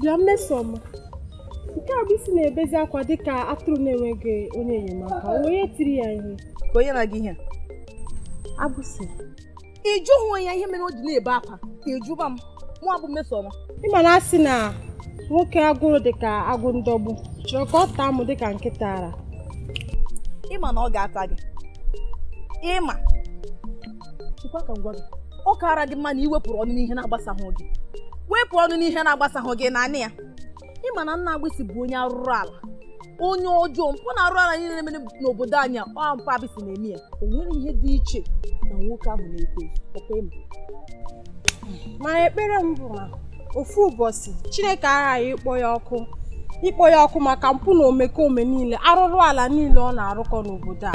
bịa mmesoma nke a bụ isi na-ebezi akwa dịka atụrụ na-enweghị onye enyemaka onye tiri ya ihe ka onye nara gị ihe agbụsị ị jụhụ ya ihe mere o ji na-ebe akwa ị jụba m mụ abụ mmesoma ị ma na a sị na nwoke agụrụ dịka agụ ndọgbu chọrọ ka ọ taa mụ dịka nkịta ara ị ma na ọ ga-ata gị ị ma chekwa ka m gwa gị ọ kaara gị mma na i wepụrụ ọnụ n'ihe na-agbasaghị gị wepụ ọnụ n'ihe na-agbasaghị gị naanị ya ị ma na nna agbịsị bụ onye arụrụ ala onye ọjọọ mpụ na arụrụ ala niile na-eme n'obodo anyị ọ mpa agbịsị na-eme ya o nwere ihe dị iche na nwoke ahụ na-ekwe ọkwa ị ma ma ekpere m bụ na ofu ụbọchị chineke aghaghị ịkpọ ya ọkụ ịkpọ ya ọkụ maka mpụ na omekome niile arụrụ ala niile ọ na-arụkọ n'obodo a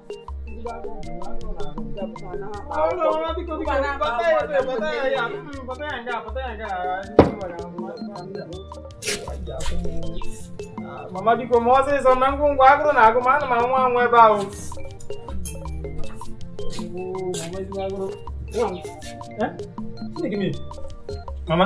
mama biko mee ọsịsọ na ngwa ngwa agụrụ na-agụ m ana m anwụ anwụ ebe a o mama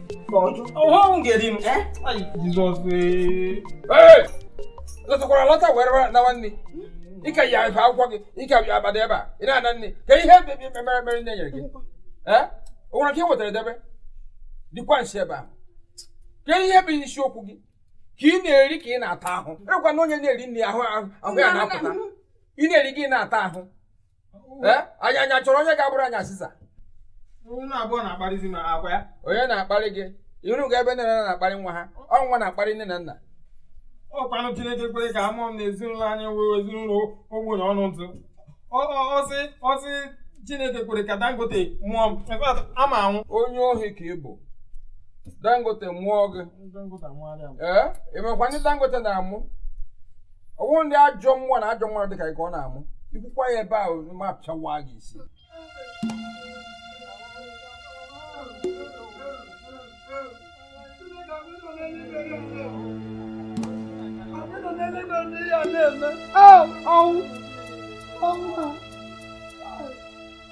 ọhụrụ m ga-eri m jizọs lọtakwara alọta were nawa nri ị ka yi efe akwụkwọ gị ị ka bịa abata ebe a ị na-ana nri kee ihe mere mere nri e nyere gị o nwere nke i wetara debe dịkwa nsi ebe a kee ihe bụ isiokwu gị ka ị na-eri ka ị na-ata ahụ ọkwa na onye na-eri nri ahụ ahụ ya na-apụta ị na-eri gị na-ata ahụ anyị anya chọrọ onye ga-abụrụ anyị asịsa unu abụọ na-akparịzi m ọkwa ya onye na-akparị gị i rugo ebe nne na nna na-akparị nwa ha ọ nwa na-akparị nne na nna ọkwanụ Chineke kwere ka a mụọ m na ezinụlọ anyị wee ezinụlọ ogbenye ọnụ ntụ a sị a sị Chineke kwere ka Dangote mụọ m ama m anwụ onye ohi ka ị bụ Dangote mụọ gị ee ị makwa ndị Dangote na-amụ ọ wụ ndị ajọ mmụọ na ajọ mmadụ dịka gị ka ọ na-amụ i kwukwa ya ebe ahụ m apịawa gị isi Oh, oh, oh.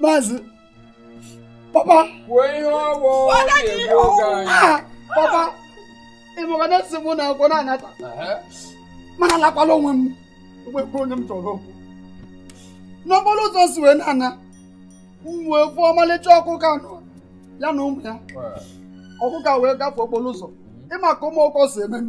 maazị papa kwuo ihe ọ wụ na-egbu oge anyị ah, papa ị mago na esi mụ n'akwụkwọ na-anata m na-alakwala onwe m nwekwa onye m chọrọ okwu n'okporo ụzọ si wee na-ana m wee fụọ ọmalịcha ọkụkọ anọ ya na ụmụ ya ọkụkọ wee gafee okporo ụzọ ị ma ka ụmụ ọkụkọ si eme m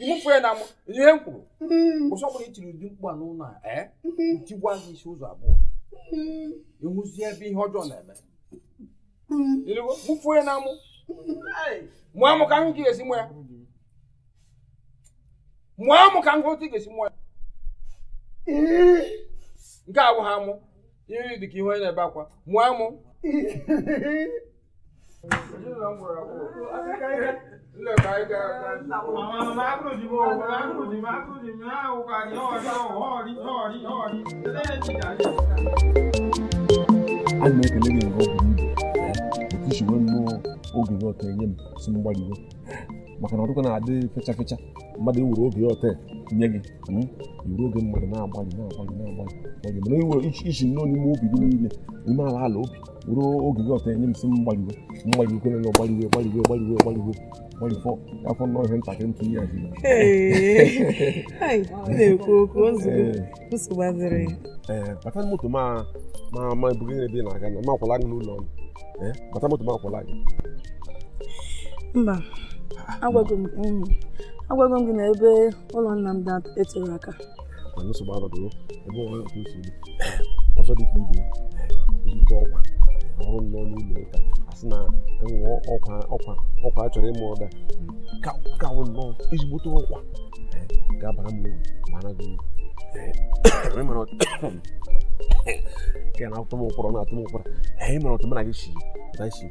ị mụfuo ya n'amụ ihe m kwuru ụbọsị ọ bụla i tiri ụdị mkpu a n'ụlọ a m tiwaa gị isi ụzọ abụọ ị hụzie ebe ihe ọjọọ na-eme ị nụgo mụfuo ya n'amụ mụọ amụ ka m hụ ka ị ga-esi mụọ ya mụọ amụ ka m hụ otu ị ga-esi mụọ ya nke a abụghị amụ ihu dị ka ihu onye na-ebe akwa mụọ amụ ana m ekele gị nke buru ibu otu i si were nnọọ oge gị ọtọ enye m sị m gbalịwe maka na ọ dị ka ọ na-adị fecha fecha mmadụ iwere oge ya ọtọ nye gị iwere oge mmadụ na-agbalị na-agbalị na-agbalị mana iwere i si nnọọ n'ime obi gị niile ime ala ala obi were oge gị ọtọ enye m sị m gbaliwe mgbaliwe kwerela gbaliwe gbaliwe gbaliwe gbaliwe gbalifọ afọ nnọọ ihe ntakịrị ntụ ihe ahụ na-ekwu okwu nsogbu adịghị ee bata moto ma ma ma ebuga gị ebe ị na-aga na ma akwala gị n'ụlọ ọrụ ee bata moto ma akwala gị mba agwago m gị na ebe ụlọ nna m dị etero aka mana nsogbu anọdụrụ ebe onwe otu si dị ọzọ dị ka ibe ezigbo ọkwa ọrụ m n'ọnụ ụlọ ụka a sị na e nwere ọkwa ọkwa ọkwa a chọrọ ịma ọ ga-aka wụ nnọọ ezigbote ọkwa ga-abara m uru bara gị uru ka na-atụ m ụkwara na-atụ m ụkwara anyị mara otu mụ na gị si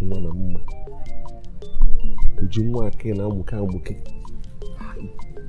nwa na mma uju nwa akị na-amụke amụke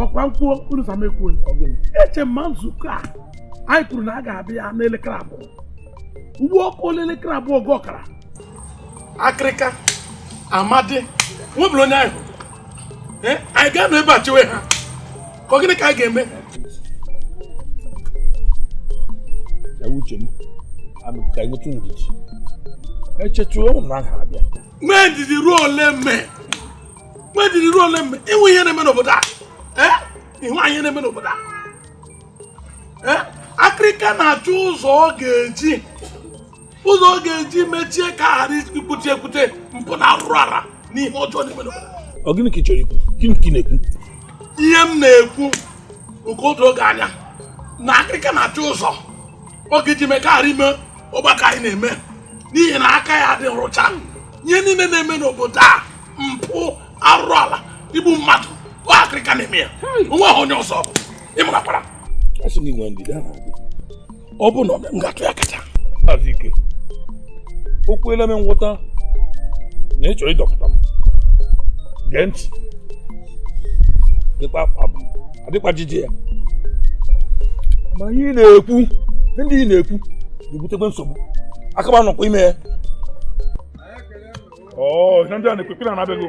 ọ kwa m kwuo unu asị m ekwuo eche m na nzukọ a anyị kwuru na a ga-abịa n'elekere abụọ ugbu a ọ kụọla elekere abụọ ji ọkara akịrịka mmadụ enwebero onye anyị hụrụ eh, anyị ga-anọ ebe a chewe ha ka gịnị ka anyị ga-eme uche m ka enwetụ ndidi e chetụ ụmụnna ha abịa nwee ndidi ruo ole mme nwee ndidi ruo ole mme ịnwe ihe na-eme n'obodo a ihe anyị na-eme n'obodo a akịrịka na-achọ ụzọ ọ ga-eji ụzọ ọ ga-eji mechie ka a ghara ikwute ekwute mpụ na arụrụ ala na ihe ọjọọ na-eme n'obodo ọ gịnị ka ị chọrọ ikwu gịnị ka ị na-ekwu ihe m na-ekwu nke o doo gị anya na akịrịka na-achọ ụzọ ọ ga-eji mee ka a ghara ime ọgbakọ anyị na-eme n'ihi na aka ya adịrọ ọcha ihe niile na-eme n'obodo a mpụ arụrụ ala igbu mmadụ ọ akịrịka na-eme ya o nweghị onye ọzọ ọ bụ ị marakwara asị m inwe ndidi a na-adị ọ bụ na ọ m ga-atụ ya kacha maazị ike o kweela m nghọta na ị chọrọ ịdọpụta m gee ntị dịkwa abụ adịkwa jiji ya ma ihe ị na-ekwu ndị ị na-ekwu ga-ebutekwa nsogbu aka m anọkwa ime ya ọ na ndị a na-ekwu ekwu na-abịago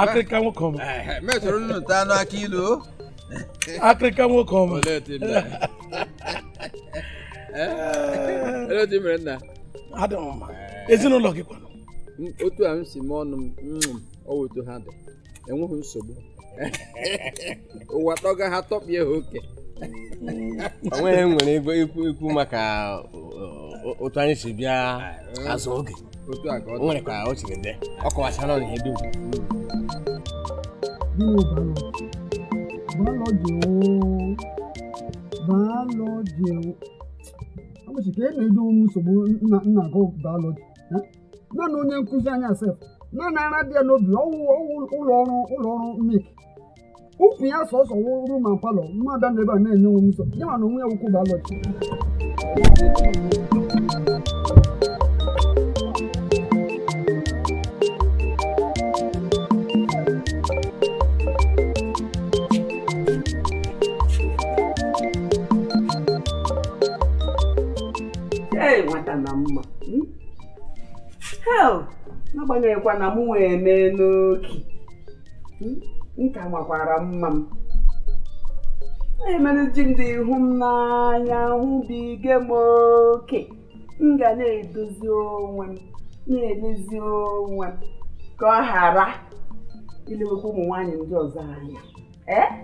akịrịka nwoke ọma mesoro nnu ta anụ akị ilu akịrịka nwoke ọma olee otu ị mere Eh? olee otu ị mere nna adị m mma ezinụlọ gị kwanụ M- otu a m si mee ọnụ m mm, ọ wụ otu ha dị enweghị nsogbu ụwa tọga ha tọpịa ha oke onweghị nwere ego ikwu ikwu maka otu anyị si bịa azụ oge nwere ka o siri dị ọ kọwachara na ihe dum biology biology ụbọchị ka e na-edo onwe nsogbu nna nna gụ biology naanị onye nkụzi anyị sef naanị ara dị ya n'obi ọwụ ụlọ ọrụ ụlọ ọrụ milk ukwu ya sọsọ wụ room and parlour mmadụ nọ ebe a na-enye onwe m nsọ ya ma na onwe ya wụkwụ biology nwata na mma hmm? n'agbanyeghịkwa na m nwee mee n'oki m ka makwara mma m na-emere di m ji hụ m n'anya hụbiga m oke m ga na-edozi onwe m na-elezi onwe m ka ọ ghara ilewekwa ụmụ nwaanyị ndị ọzọ anya ee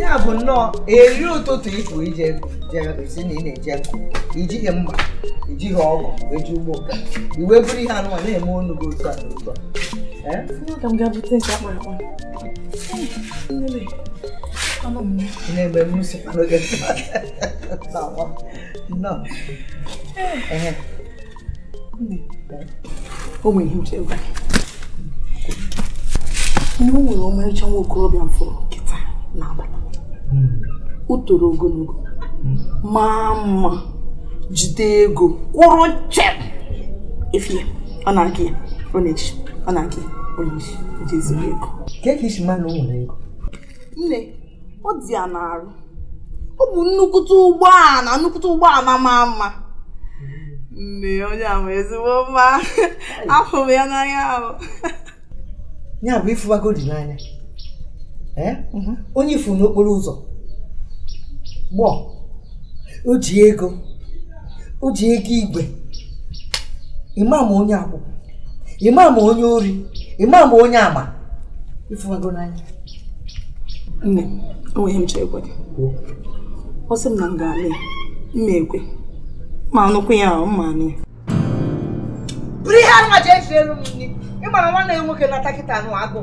ya bụ nnọọ eri ụtụtụ ịpụ ije sị na ị na-eje ijighị mma ijighị ọgụ eji ugbo nka i weburu ihe anụwa na-eme ọnụ gị otu a n'ụzọ na-eme mmusi n'oge nnọọ o nwere ihe nchebe ihe o nwere ọmarịcha nwa okorobịa m fụrụ nkịta n'abalị o toro ogologo maa mma jide ego kwụrụ chịm efi ya ọ na-aga ya ọ na-eji ọ na-aga ya ọ na-eji ego ka e ka i si ma na o nwere ego nne ọ dị ya n'arụ ọ bụ nnukwute ụgbọala nnukwute ụgbọala maa mma nne onye a ma ezigbo mma afụ m ya n'anya ahụ ya bụ ịfụbago di n'anya eh? mhm. onye ị fụ n'okporo ụzọ gbọọ o ji ego o ji ego igwe ịma ma onye akwụkwọ ịma ma onye ori ịma ma onye ama ịfụbago n'anya nne o nwere ihe m chọrọ ịgwa gị ọ sị m na m ga-alụ ya mma ekwe ma anụkwu ya ahụ mma anụ ya bụrụ ihe anụ aja eji elu m nri ịmara nwanne ya nwoke na-ata kịta anụ agụụ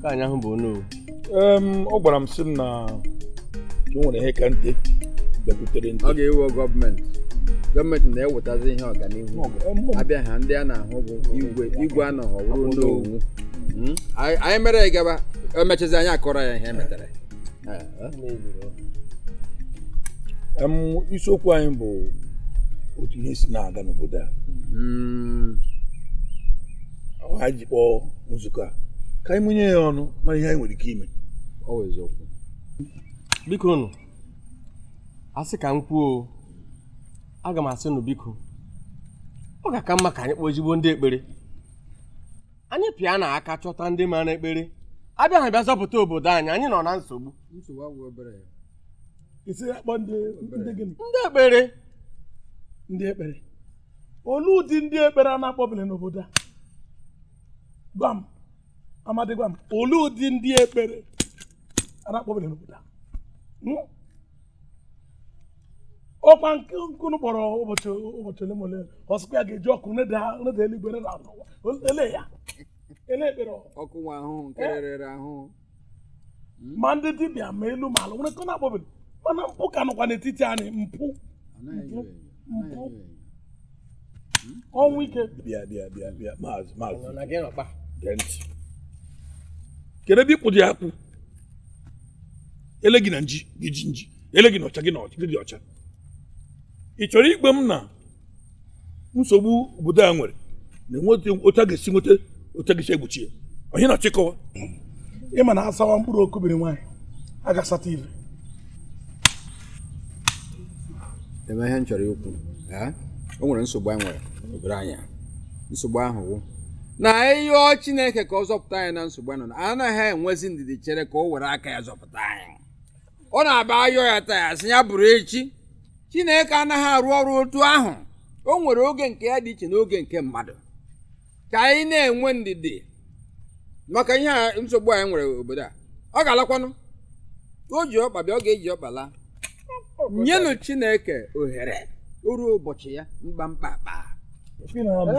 ka anyị ahụ bụ onowu ọ gwara m sị m na o nwere ihe ka nte bịakwutere nte ọ ga-ewe gọọmenti gọọmenti na-ewetazi ihe ọganihu abịa ha ndị a na-ahụ bụ igwe igwe a nọghọ wụ onowu hmm? anyị mere ya gaba emechazi anyị akọrọ ya ihe e metara isiokwu anyị bụ otu ihe si na-aga n'obodo a hmm. anyị ji kpọọ nzukọ a ka anyị mụnye ya ọnụ mara ihe anyị nwere ike ime bikonụ a sị ka m kwuo aga m asị nụ biko ọ ga-aka mma ka anyị kpọọ ezigbo ndị ekpere anyị pịa n'aka chọta ndị mara ekpere abịa ha bịa zọpụta obodo anyị anyị nọ na nsogbu ndị ekpere ndị ekpere olee ụdị ndị ekpere a na-akpọbele n'obodo a gwa m Amadi gwa m olee ụdị ndị ekpere a na-akpọbele n'obodo a Hmm? ọkwa nke unu kpọrọ ụbọchị ụbọchị ole ma ole ọ sịkwa ya ga-eji ọkụ neda neda eluigwe neda n'ụwa ele ya ele ekpere ọ ọkụ nwa ahụhụ nke rere ahụhụ ma ndị dibịa ma elu ma ala nwere nke ọ na-akpọbeghị mana mpụ ka nọkwa n'etiti anyị mpụ mpụ mpụ ọnwụ ike bịa bịa bịa bịa maazị maazị gee ntị kedu ebe ị kwụdị akwụ ele gị na nji gị ji nji ele gị na ọcha gị na ọcha gị dị ọcha ị chọrọ ịgwa m na nsogbu obodo a nwere na-enweta otu a ga-esi nweta otu a ga-esi egbochi ya onye na-achịkọwa ịma na asawa mkpụrụ okubiri nwaanyị a ga-asata ive eme ihe m chọrọ ikwu o nwere nsogbu anyị nwere obodo anyị nsogbu ahụ wụ na ị yọọ Chineke ka ọ zọpụta anyị na nsogbu anyị nọ na anaghị enwezi ndidi chere ka o were aka ya zọpụta anyị ọ na-abụ a yọọ ya taa a sị ya bụrụ echi chineke anaghị arụ ọrụ otu ahụ o nwere oge nke ya dị iche na oge nke mmadụ ka anyị na-enwe ndidi maka ihe a nsogbu anyị nwere obodo a ọ ga-alakwanụ o ji ọkpa bịa ọ ga-eji ọkpa laa nyenụ chineke ohere o ruo ụbọchị ya mkpamkpa akpaa Ị na-ama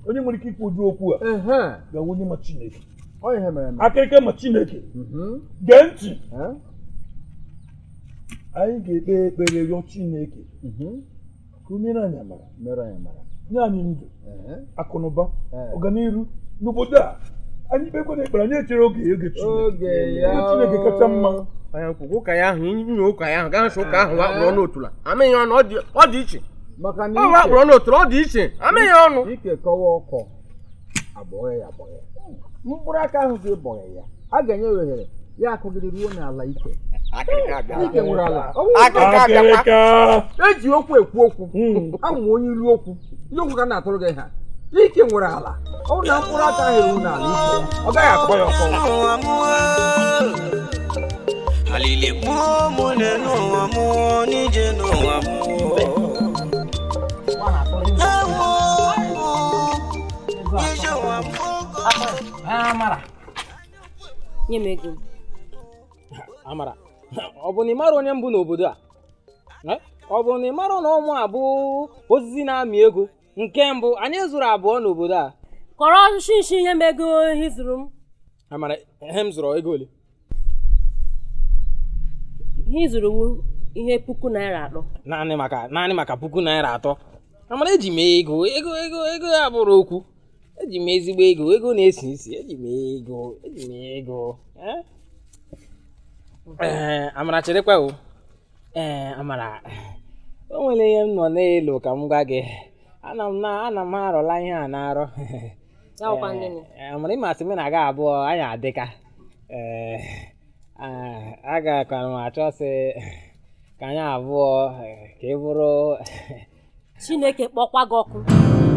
onye nwere ike ikwu ụdị okwu a ga-awụ onye ma Chineke akịrịka ma chineke mhm. gee ntị anyị ga-ekpe ekpere rịọ chineke mhm. ka o mere anyị amara nye anyị ndụ akụnụba ọganihu n'obodo a anyị kpekwanụ ekpere anyị echere oge oge chineke kacha mma ụka ya ahụ inye ụka ya ahụ gaa nso ụka ahụ wakpụrụ ọnụ otula amịghị ọnụ ọ dị iche ọ wakpụrụ ọnụ otula ọ dị iche amịghị ọnụ abọghị ya abọghị ya mkpụrụ aka ahụ gị bọghị ya a ga-enye ohere ya akụgịrị ruo n'ala ike ike nwere ala eji okwu ekwu okwu hmm. ahụ onye ilu okwu ilu okwu ka na-atụrụ gị ha ike nwere ala ọ na mkpụrụ aka ahụ eru n'ala ike ọ gaghị akọ ya ọkọ alili mụọ mụ n'ụwa mụọ n'ije n'ụwa mụọ Amara. Nye m ego. Amara, ọ bụ na ị mara onye m bụ n'obodo a? Eh? Ọ bụ na ị mara na ọ mụa bụ osisi na-amị ego nke mbụ anyị zuru abụọ n'obodo a? Kọrọ nshi nshi nye m ego ihe ị zụrụ m. Amara, ihe m zụrụ ego ole? ihe ị zụrụ wụ ihe puku naira atọ naanị maka naanị maka puku naira atọ amara eji m ego ego ego ego abụrụ okwu eji m ezigbo ego ego na-esi isi eji m ego eji m ego eh? ee amara cherekwa o ee eh, amara o nwere ihe m nọ na-elo ka m gwa gị ana m na ana m arọla ihe a na nrọ N'ọkwa ndị nị. Ee, mara ị masị m na-aga abụọ anyị adịka ee a- agakwara m achọ sị ka anyị abụọ ee, ka ị bụrụ chineke kpọkwa gị ọkụ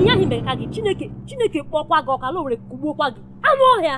ihe ahụ merekwa gị chineke chineke kpọkwa gị ọkụ ala Owere kugbuokwa gị anụ ọhịa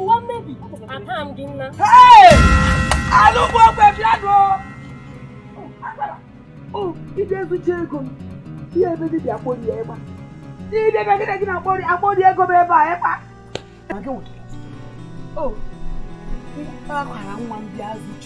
ụwa mmebi apa m gị nna alụgbu ogbe bịa nụ ị bịa ezuchi ego m ihe ebe gị bịa kpori ya ịgba ị bịa ebe gị na gị na-akpori akpori ego m ebe a ịkpa o akwara nwa m bịa zuchi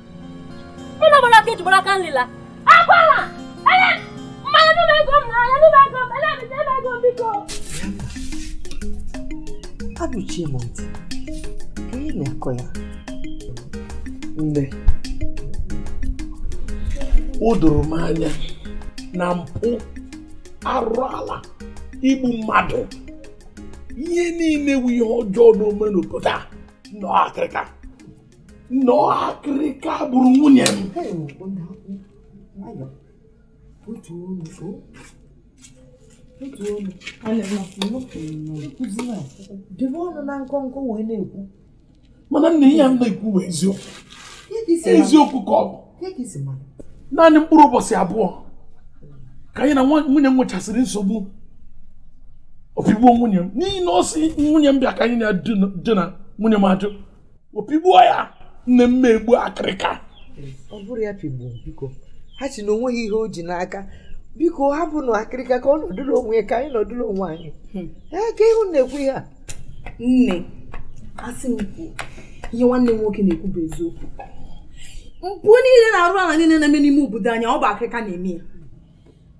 Mụ na gbara aka eji gbara aka nlila. Akwala! Ele! Mmanya nụba ego m n'anya nụba ego m ele ebite ebe ego m biko. Abụchie m ntị. Ka ị na-akọ ya. Nne. O doro m anya na mpụ arụrụala igbu mmadụ ihe niile wu ihe ọjọọ na-eme n'obodo a na ọ akịrịka na ọ akịrịka gburu nwunye m debe ọnụ na nkọnkọ wee na-ekwu mana nna ihe m na-ekwu bụ eziokwu eziokwu ka ọ bụ naanị mkpụrụ ụbọchị abụọ ka ya na nwunye m nwechasịrị nsogbu o pigbuo nwunye m n'ihi na ọ sị nwunye m bịa ka anyị na-edina nwunye m ajụ o pigbuo ya nne m egbu akịrịka ọ bụrụ ya pigbuo biko ha sị na o nweghị ihe o ji n'aka biko hapụnụ akịrịka ka ọ nọdụrụ onwe ya ka anyị nọdụrụ onwe anyị hmm. ee kee ihe ị na-ekwu ihe a nne asị m kwuo ihe nwanne m nwoke na-ekwu bụ eziokwu mpụ niile na arụ ala niile na-eme n'ime obodo anyị ọ bụ akịrịka na-eme ya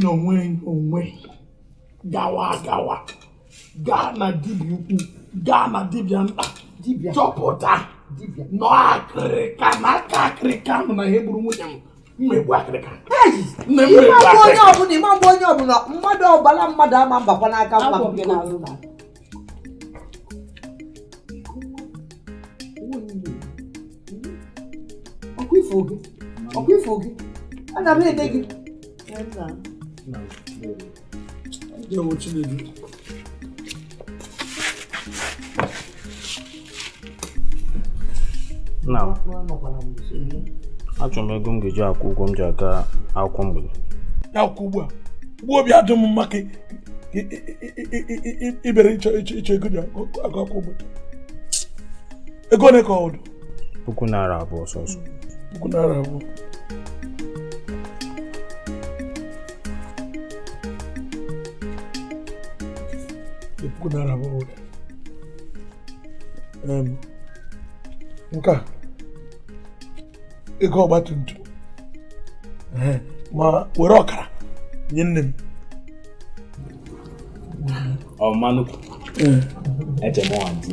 n'onwe onwe gawa agawa gaa na dibịa ukwu gaa na dibịa nta chọpụta na ọ akịrịka na aka akịrịka nọ na ihe gburu nwunye m m egbu akịrịka nne m egbu akịrịka ị ma-egbu onye ọbụla ị ma-egbu onye ọbụla mmadụ ọbara mmadụ ama agbakwa n'aka mba ọkwa ifo gị ọkwa ifo gị ana m ede gị na achọrọ m ego m ga-eji akwụ ụgwọ m ji aga akwụkwọ mgbede ya akwụkwọ ugbu a ugbu obi adị m mma ka ibere ịchọ ịchọ ego ji agụ akwụkwọ mgbede ego ole ka ọ dị puku naira abụọ sọsọ puku naira abụọ puku naira abụọ m ga-ego ọgbatumtum ma were ọkara nye nne m ọmanụ eche m ọha di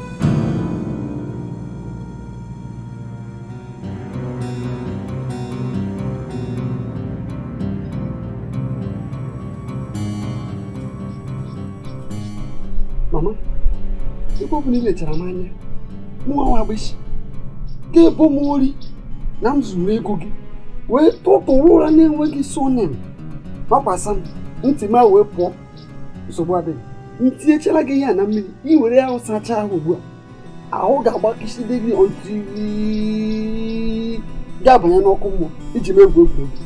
mama ebe ọ bụ na ị lechara m anya mụnwa nwa agbịsị ga-ebo m ori na m zuru ego gị wee tụtụrụ ụra na-enweghị surname makwasa m ntị m wee pụọ nsogbu adịghị m tinyechara gị ihe a na mmiri ị were ya sachaa ahụ ugbu a ahụ ga-agbakiside gị until ị ga-abanye n'ọkụ mmụọ i ji m egwu egwuregwu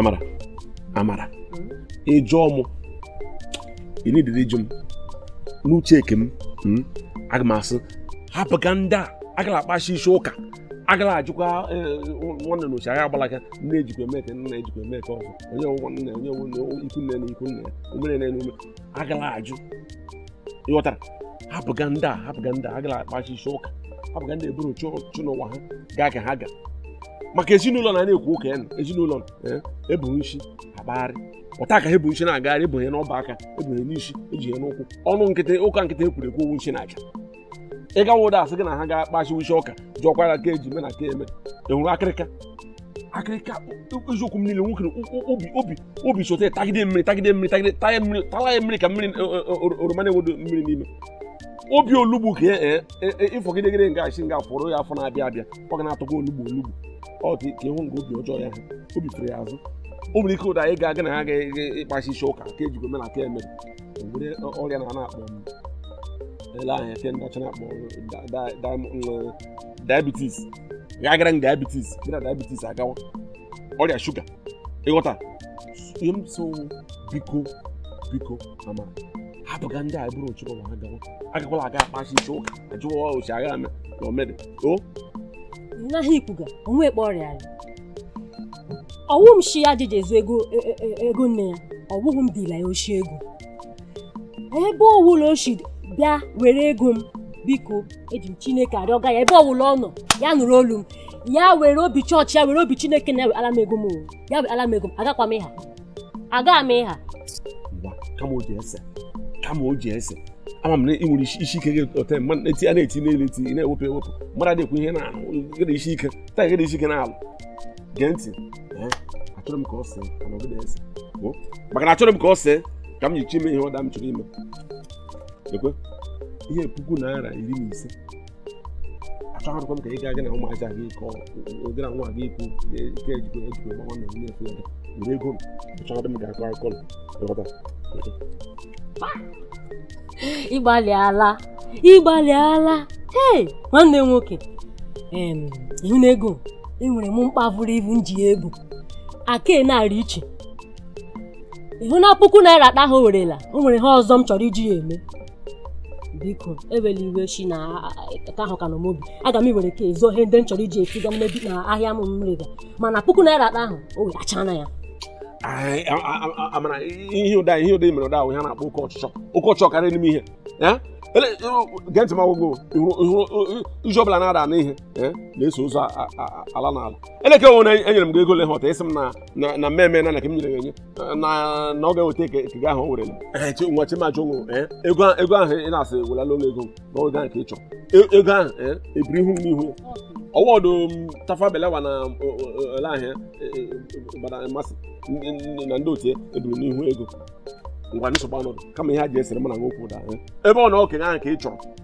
amara amara ịjụọ mụ ị na-edere ịjụ m n'uche eke m hmm, aga m asị hapụga ndị a agala akpachi isi ụka agala ajụkwa e, nwanne na ochi anyị agbalaga nne ejikwa eme ka nna ejikwa eme ka ọzọ onye nwe nne onye nwe ikwu nne na ikwu nne ya omere na enume agala ajụ ịghọtara hapụga ndị a hapụga ndị a agala akpachi isi ụka hapụga ndị eburu chụ n'ụwa ha gaa ka ha ga maka ezinụlọ na na-ekwu ụka ya na ezinụlọ ebu e isi akpagharị pụta ka ha ebu isi na-agagharị ebunye n'ọba aka ebunye n'isi eji ya n'ụkwụ ọnụ nkịtị ụka nkịtị ekwuru ekwu ọ wụ nchi na aja ị gawa ụda asị gị na ha ga-akpachi isi ụka jụọkwara ka eji eme na ka eme enwere akịrịka akịrịka eziokwu m niile nwoke obi obi obi sote tagide mmiri tagide mmiri tagide taya mmiri tala ya mmiri ka mmiri oroma na-enwedo mmiri n'ime obi olugbu ka ịfọgidegide nga achị nga fọrọ ya afọ na-abịa abịa ọ ga na-atọkwa olugbu olugbu ọ dị ka ịhụ nga obi ọjọọ ya ha obi fere ya azụ o nwere ike ụda anyị ga-aga na ha ga-ịkpachi isi ụka ka ejikwa eme na ka emere nwere ọrịa na na-akpọ m ele ahụ ihe ndị ọcha na-akpọ diabetes ga-agara m diabetes gị na diabetes agawa ọrịa shuga ịghọta ihe m so biko biko ama hapụga ndị a bụrụ ochụkọ ma ha gawa agakwala aga akpachi isi ụka ajụwa o shi agha mee na omede o naghị ikwuga onwe ekpe ọrịa anyị ọwụghị m shi ya jije zuo ego e, e, e, ego nne ya ọwụghị m dila ya oshi ego ebe ọwụla o shi bịa were ego m biko eji m chineke arịọga ya ebe ọwụla ọ nọ ya nụrụ olu m ya were obi chọọchị ya were obi chineke na ya were ala m ego m ya were ala m ego m agakwa m ịha aga m ịha kama o ji ese kama o ji ese ama m na ị nwere isi ike gị ote mmadụ na-eti a na-eti n'elu eti ị na-ewepụ ewepụ mmadụ na-ekwu ihe na-ahụ gị na isi ike taa gị na isi ike na-alụ gee ntị achọrọ m ka ọ see ka ọ nọgide ese maka na achọrọ m ka ọ see ka m nyichi ime ihe ọda m chọrọ ime ekwe ihe puku naira iri na ise achọghịkwa m ka ị gaa gị na ụmụaja gị kọ gị na nwa gị ikwu ike ejikọ ejikọ gbawa na onye efu ya were ego m achọghị m ga-akọ akụkọ na ịghọta ị gbalịala ị gbalịala ee nwanne m nwoke ị hụ na ego enwere m mkpa buru ibu m ji ya egbo aka na-arị iche ihi na puku naira akpa ha werela o nwere ihe ọzọ m chọrọ iji ya eme biko ewela iwe shi na ka ahụ ka nọ m obi aga m iwere ka ezo ihe ndị m chọrọ iji efiga m n'ebi na ahịa m m rega mana puku naira akpa ahụ o wetachana ya amara ihe ụda ihe ụda mere ụda ahụ ihe a na-akpọ oke ọchịchọ oke ọchịchọ karịa n'ime ihe gee ntị m gwa gị ihe ọbụla na-ada na ihe na-eso ụzọ ala na ala elekere onwe na enyere m gị ego ole ha ọta ị sị m na mmemme na na ka m nyere ya enye na na ọ ga-eweta eke eke gị ahụ o werela Ee, chi- nwa chimachi onwe ee, ego ahụ- ego ahụ ị na-asị welala ụlọ ego na oge ahụ ka ị chọrọ E- ego ahụ ee, ebiri ihu m n'ihu ya ọwọdụ Tafawa Balewa na ole ahịa gbara mmasị ndị- ndị- na ndị otu ya ebiri n'ihu ego ngwa nsogbu anọdụ kama ihe a ji esere mụ na nwoke ụda ee. ebe ọ na okenye ahụ ka ị chọrọ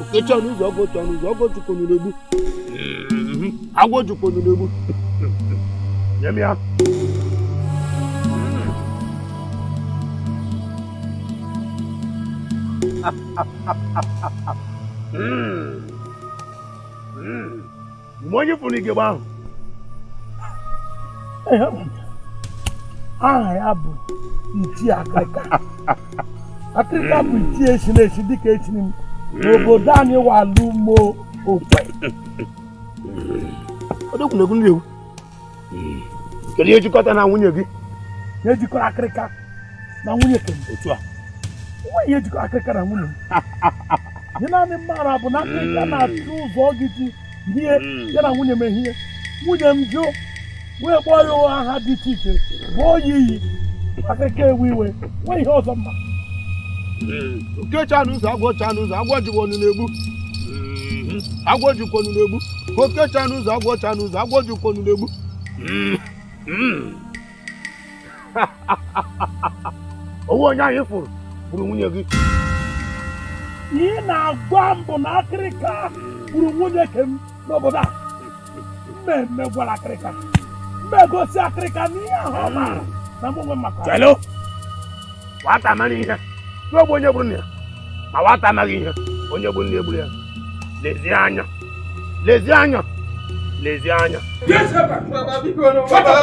okechi ọnụ ụzọ ọgụ otu ọnụ ụzọ ọgụ otu konyere egbu agwọ otu konyere egbu nye m ya Mm. Mm. mgbe onye fụrụ igegbe ahụ aha ya bụ ichie akịrịka akịrịka bụ ichie echiri echi dịka echiri m n'obodo anyị wa bụ Ụmụokwe ọ dịkwanụ egwu ndị ewu hmm. kedu ihe jikọta na nwunye gị ihe jikọrọ akịrịka na nwunye ke m o nweghị ihe jikọrọ akịrịka na nwunye m ihe naanị m maara bụ na akịrịka hmm. na-achọ ụzọ gị ji ihe hmm. ya na nwunye m ehihie nwunye m jụ wee kpọọ ya aha dị iche iche bụ oyi iyi akịrịka ewe iwe o nweghị ihe ọzọ m ma oke chanụ ụzọ agwọ chanụ ụzọ agwọ jikwa ọnụ na-egbu agwọ jikwa ọnụ na-egbu oke chanụ ụzọ agwọ chanụ ụzọ agwọ jikwa ọnụ na-egbu ọ wụ onye anyị kwuru gburu nwunye gị ihe ị na-agwa m bụ na akịrịka gburu nwunye ke m n'obodo a m emegwara akịrịka m egosi akịrịka n'ihe ahụ ọ maara na mụ nwa maka Hello? nwata mara ihe na-egbu onye gburu nna ya ma nwata amaghị ihe onye gburu nna ya egburu ya lezie anya lezie anya lezie anya Baba,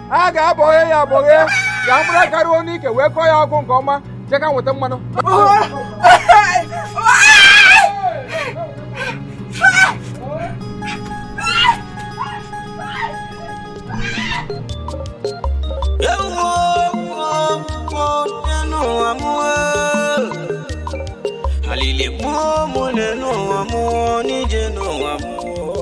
a ga-abọghe ya abọghe ka mkpụrụ aka ruo n'ike wee kọọ ya ọkụ nke ọma che ka m weta mmanụ alili mụ o mụ n'elu ụwa mụ o n'ije n'ụwa mụ o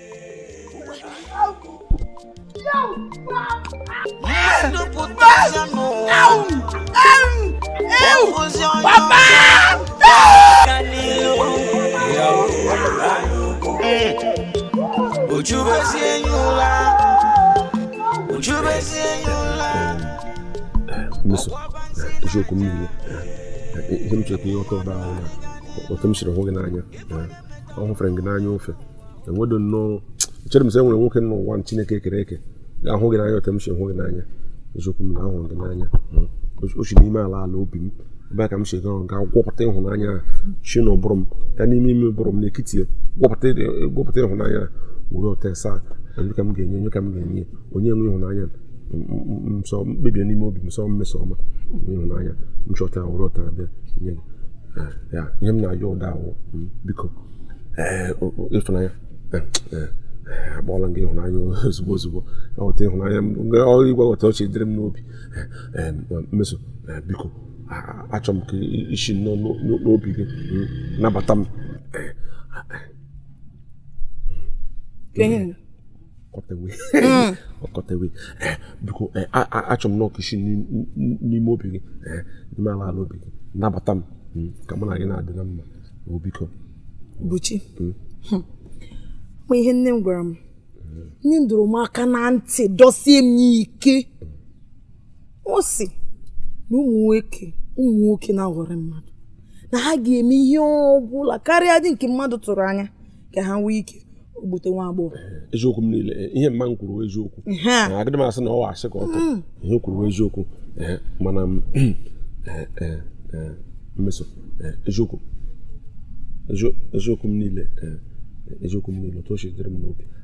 Mmeso, eziokwu m niile ihe m chọrọ ka ị ghọta ugbu a wụ na otu m siri hụ gị n'anya ahụfere gị n'anya ofe enwedo nnọọ echere m sị enwere nwoke n'ụwa chineke kere eke ga-ahụ gị n'anya otu m si hụ gị n'anya eziokwu m na ahụrụ gị n'anya hmm. o si n'ime ala ala obi m ebe a ka m si gaa ga gwupụta ịhụnanya a si na ụbụrụ m gaa n'ime ime ụbụrụ m n'ekiti ya gwupụta ịhụnanya a werota sị onye ka m ga-enye onye ka m ga-enye onye nwe ịhụnanya nsọ m kpebie n'ime obi m sọ mmesoma ịhụnanya m chọta werota bịa nye gị ya ihe m na-ayọ ugbu a wụ biko ịfụnanya akpọọla gị ịhụnanya ozugbo ozugbo ọghọta ịhụnanya ọrụ ị ga-aghọta o si dịrị m n'obi mmeso biko achọ m ka i si n'obi gị nabata m ọkọtewe hmm. ọkọtewe eh, biko eh, achọ m nnọọ ka i si n'ime obi gị eh, n'ime ala ala obi gị nabata m hmm, ka mụ na gị na-adị na mma oh, biko buchi hmm. ma ihe nne m gwara m nne m dọrọ m aka na ntị dọsie m ike ọ sị na ụmụ nwoke ụmụ nwoke na-aghọrọ mmadụ na ha ga-eme ihe ọ bụla karịadị nke mmadụ tụrụ anya ka ha nwee ike gbute nwa agbọghọ eziokwu m niile ihe mama gị kwuru wụ eziokwu agadị m asị na ọ wụ asị ka ọ tụrụ mm. ihe o kwuru wụ eziokwu mana mmeso eziokwu eziokwu m niile eziokwu m niile otu o si dịrị m n'obi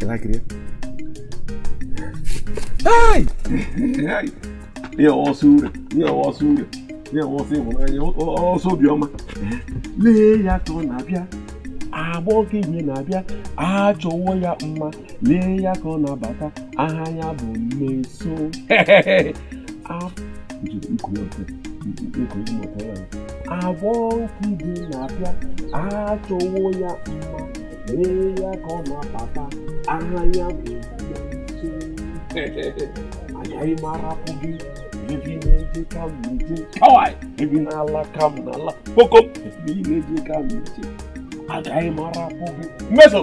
ị lakiri ya ihe ọsọ ure ihe ọsọ ure ihe ọsọ ịhụnanya ọsọ obiọma lee ya ka ọ na-abịa agbọghọ ihe na-abịa achọwo ya mma lee ya ka ọ na-abata aha ya bụ mmeso agbọghọ ihe na-abịa achọwo ya mma lee ya ka ọ na-abata aha ya bụ agaghị m arapụ gị ebe ị na-eje ka m na-eje kawai ebe ị na-ala ka m na-ala kpoko ebe ị na-eje ka m na-eje agaghị m arapụ gị mmeso